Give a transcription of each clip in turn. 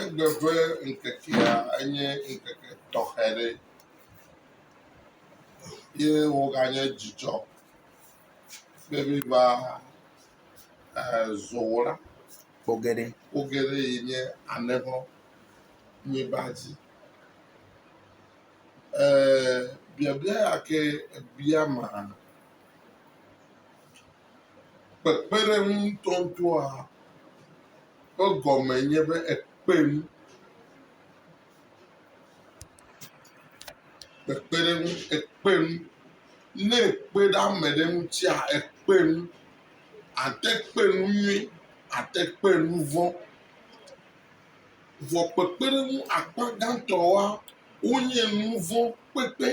Egbe ƒe ŋkekea enye ŋkeke tɔxɛ ɖe ye woganye dzidzɔ ƒe bliba ezɔwɔla ƒo geɖe ƒo geɖe yi nye alẽxɔ bliba dzi. E biabia ya ke ebia maa kpekpeɖeŋu ŋutɔŋutɔa. ƒe gɔme nye be ekpe nu. Kpekpeɖeŋu, ekpe nu. Ne èkpe ɖe ame ɖe ŋutia, ekpe nu. Àte kpe nu nyui, àte kpe nu vɔ̃. Vɔ kpekpeɖeŋu akpa gãtɔa, wonye nu vɔ̃ kpekpe.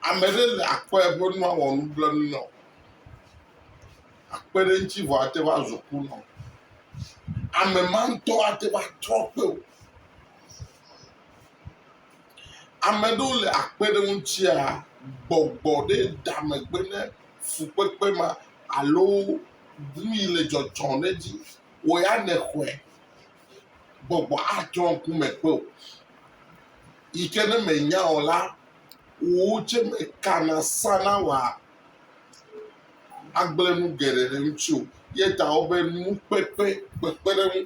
Ame ɖe le akɔe be nu awɔ nublanui nɔ o. Akpe ɖe eŋuti vɔ ate ŋu azɔ ku nɔ. Ame ma ŋutɔ ate ŋu atrɔ kpe o. Ame ɖewo le akpe ɖe eŋutia gbɔgbɔ ɖe da megbe ne fukpekpe ma alo nu yi le dzɔdzɔm ɖe edzi wɔ ya nexɔe. gbɔgbɔ atsɔ ŋku me kpe o. Yi ke ne mènya o la, wò tsɛ mekana sana wòa agblẽ nu geɖe ɖe ŋutiwò. Ye ta wobe nukpekpe, kpekpeɖeŋu,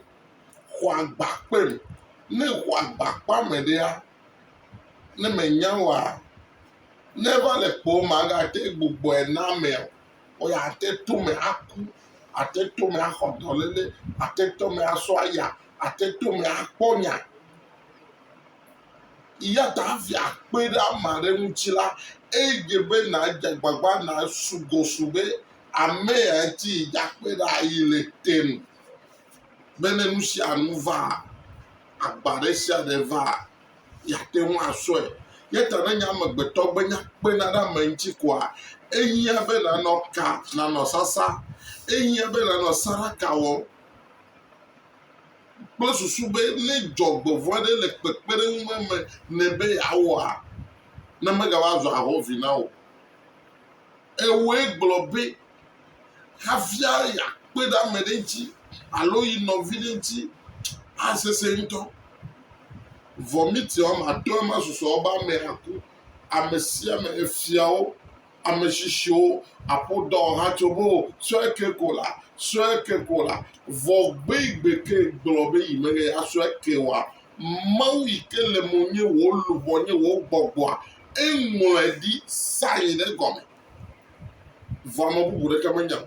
xɔ agba kpem. Ne èxɔ agba kpea ame ɖea, ne mènya oa, ne eva le kpɔwò magate gbugbɔe na amea o. Woyi ate to eme aku, ate to eme axɔ dɔléle, ate to eme asɔ aya, ate to eme akpɔ nya. Eya ta hafi akpe ɖe ame aɖe ŋuti la, edze be nàdze agbagba nàsu gɔ su be ame ya ŋuti yi dze akpe ɖa yi le te nu be ne nu sia nu vaa, agba ɖe sia ɖe vaa, yeate ŋu asɔe. Ya ta ne nye amegbetɔ gbe nya kpena ɖe ame ŋuti koa, ehiã be nànɔ ka, nànɔ sasa. Ehiã be nànɔ saraka wɔm kple susu be ne dzɔgbevɔ̃e ɖe le kpekpeɖeŋu me me nɛ be yeawɔa, ne megava zu ahɔ̃vi na wò. Ewɔe gblɔ be hafia yeakpe ɖe ame ɖe ŋuti alo yi nɔvi ɖe ŋuti, asesẽ ŋutɔ. Vɔmiti woame atɔ̃e ma susɔ be ame aku. Ame sia ame, efiawo, ame tsitsiwo, aƒodɔ ha tso be o, sɔe ke ko la, sɔe ke ko la. Vɔ gbe yi gbe ke gblɔ be yi mele ya sɔe ke oa, Mawu yi ke le mo nye wò luʋɔ nye wò gbɔgbɔa, eŋlɔe ɖi sa yi ɖe gɔme. vɔ ame bubu ɖeke menya o.